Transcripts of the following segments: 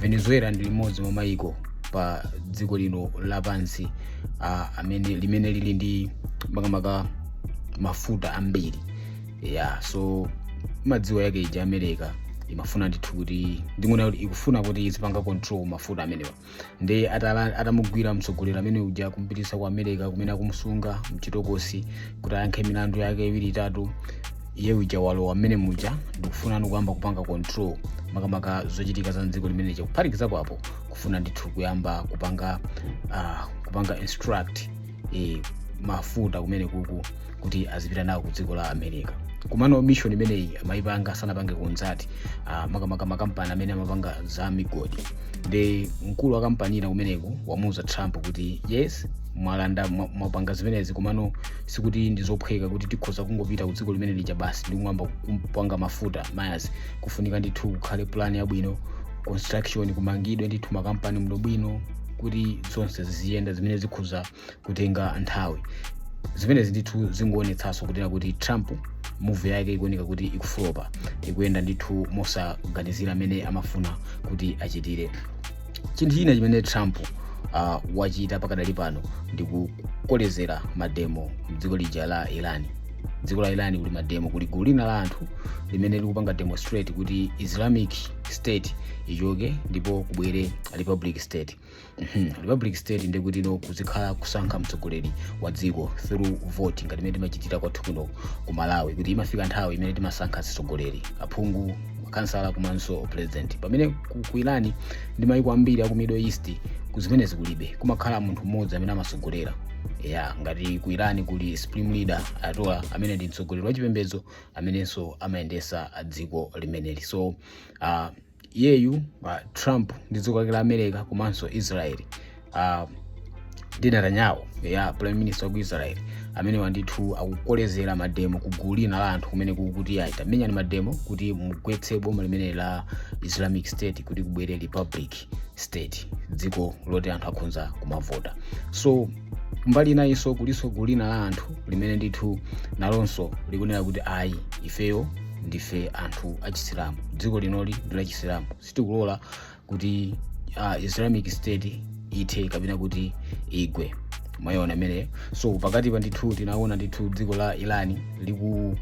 venezuela ndi limodzi mwa maiko pa dziko lino lapansi ah, amene limene lili ndi makamaka mafuta ambiri yeah so mwadziwa yake ija america imafuna ndithu kuti ndiona kuti ikufuna kuti izipanga control mafuta amenewa ndi atala- atamugwira mtsogoleri amene uja kumpititsa ku america kumene akumusunga mchitokosi kuti ayankhe milandu yake iwiri itatu iye uja walowa mmene muja ndi kufuna kuyamba kupanga control makamaka zochitika za mdziko limene lija kuphatikiza apo kufuna ndithu kuyamba kupanga uh, kupanga extract eh, mafuta kumene kuku kuti azipita nawo ku dziko la america kumano mission imeneyi amayipanga sanapange consult uh, makamaka makampani amene amapanga za migodi ndi mkulu wa kampani ina kumeneko wamuuza trump kuti yes mwalanda mwa- mwapanga zimenezi komano sikuti ndi zophweka kuti tikhoza kungopita ku dziko limene lija basi ndi kukayamba kupanga mafuta mayazi kufunika ndithu kukhale plan yabwino construction kumangidwe ndithu makampani bwinobwino kuti zonse ziziyenda zimene zikhoza kutenga nthawi zimenezi ndithu zingoonetsanso kunena kuti trump move yake ikuoneka kuti ikufulopa ikuyenda ndithu mosaganizira mmene amafuna kuti achitire chinthu china chimene trump uh, wachita pakadali pano ndi kukolezera mademo mdziko lija la iran dziko la iran kuli mademo kuli gulu lina la anthu limene likupanga demonstrate kuti islamic state ichoke ndipo kubwere republic state Mhm, republic state ndiye kutino kuzikhala kusankha mtsogoleri wa dziko through vote ngati imene timachitira kwathu kuno ku malawi kuti imafika nthawi imene timasankha atsogoleri aphungu khansala komanso president pamene ku, ku irani ndi maiko ambiri aku middle east uku zimenezi kulibe kumakhala munthu mmodzi amene amatsogolera ya ngati ku irani kuli supreme leader ayatollah amene ndi mtsogoleri wachipembedzo amenenso amayendesa dziko limeneli so uh, iyeyu uh, trump ndi dziko lake la america komanso israel uh, Netanyahu uja prime minister wa ku Israel amenewa ndithu akukolezera mademo ku gulu lina la anthu kumeneku kuti ayi tamenyani mademo kuti mugwetse boma limene la Islamic State kuti kubwere republic state dziko loti anthu akhonza kumavota so mbali inayinso kulinso gulu lina la anthu limene ndithu nalonso likunena kuti ayi ifeyo ndife anthu achisilamu dziko linoli ndi lachisilamu sitikulola kuti uh, islamic state ithe kapena kuti igwe mwayiona imeneyo so pakatipa ndithu tinaona ndithu dziko la iran liku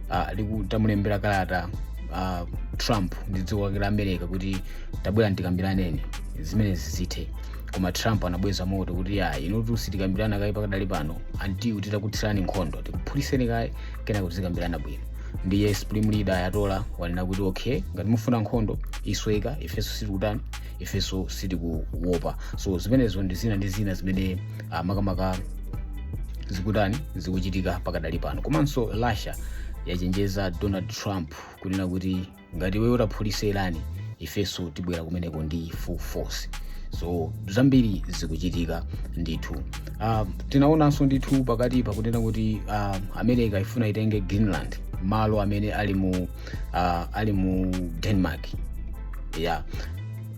uh, litamulembera kalata uh, trump ndi dziko lake la america kuti tabwerani tikambirane zimenezi zithe koma trump anabweza moto kuti ya inutu sitikambirana kaye pakadali pano until titakuthirani nkhondo tikuphulitseni kaye kenako tizikambirana bwino ndiye supreme leader ayatola wanena kuti okay ngati mufuna nkhondo isweka ifenso sitikutani ifenso sitikuwopa so zimenezo ndi zina ndi zina zimene uh, makamaka zikutani zikuchitika pakadali pano komanso russia yachenjeza donald trump kunena kuti ngati iwo ataphulise iran ifenso tibwera kumeneko ndi full force so zambiri zikuchitika ndithu uh, tinaonanso ndithu pakati pakunena kuti uh, america ifuna itenge greenland malo amene ali mu uh, ali mu denmark yeah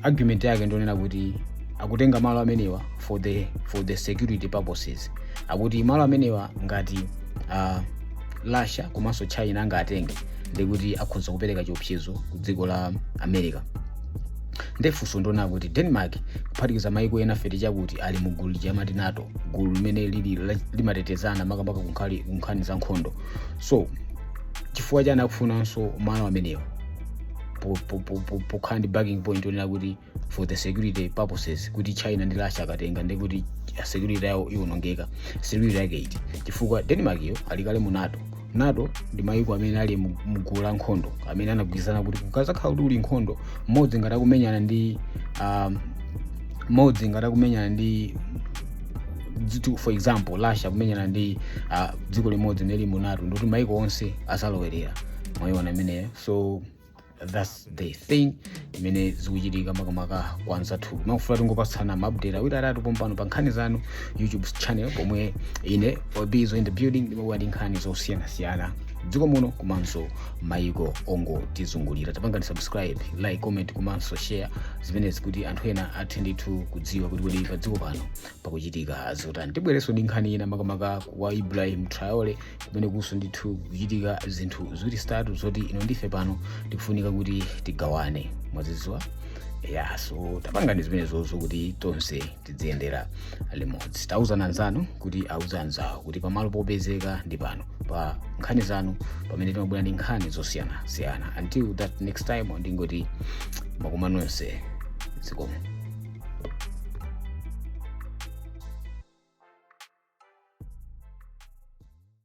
argument yake ndi yonena kuti akutenga malo amenewa for the for the security purposes akuti malo amenewa ngati uh, russia komanso china angatenge ndi kuti akhoza kupereka chiopsezo ku dziko la america nde funso ndi lonena kuti denmark kuphatikiza maiko ena fact chakuti ali mu gulu lija amati nato gulu limene lili la- limatetezana makamaka ku nkhali- ku nkhani za nkhondo so chifukwa chani akufunanso malo amenewo po- po- po- po- pokhala ndi backing point onena kuti for the security purposes kuti china ndi russia akatenga ndi kuti security yawo iwonongeka security yake iti chifukwa denmark iyo ali kale mu nato nato ndi mayiko amene ali mu- mu gulu la nkhondo amene anagwirizana kuti kukazakhala kuti uli nkhondo mmodzi ngati akumenyana ndi um, mmodzi ngati akumenyana ndi dziko for example russia kumenyana ndi uh, dziko limodzi lili mu nato ndikuti mayiko onse azalowerera mwayiona imeneyo so thats the thing imene zikuchitika makamaka kwa anzathu ndimafuna tingopatsana maupdate awiri atatu pompano pa nkhani zanu youtube channel pomwe ine obizo in the building ndimabwera ndi nkhani zosiyanasiyana dziko muno komanso maiko ongotizungulira tapangani subscribe like comment komanso share zimenezi kuti anthu ena athe ndithu kudziwa kuti kodi pa dziko pano pakuchitika zotani tibwerenso ndi nkhani ina makamaka kwa ibrahim traore kumenekunso ndithu kukuchitika zinthu ziwiri zitatu zoti inu ndi ife pano tikufunika kuti tigawane mwaziziwa ya so tapangani zimenezizo kuti tonse tidziyendera limodzi tauzana anzanu kuti auze anzawo kuti pamalo popezeka ndi pano pa nkhani zanu pamene timabwera ndi nkhani zosiyanasiyana until that next time ndingoti makumano onse zikomo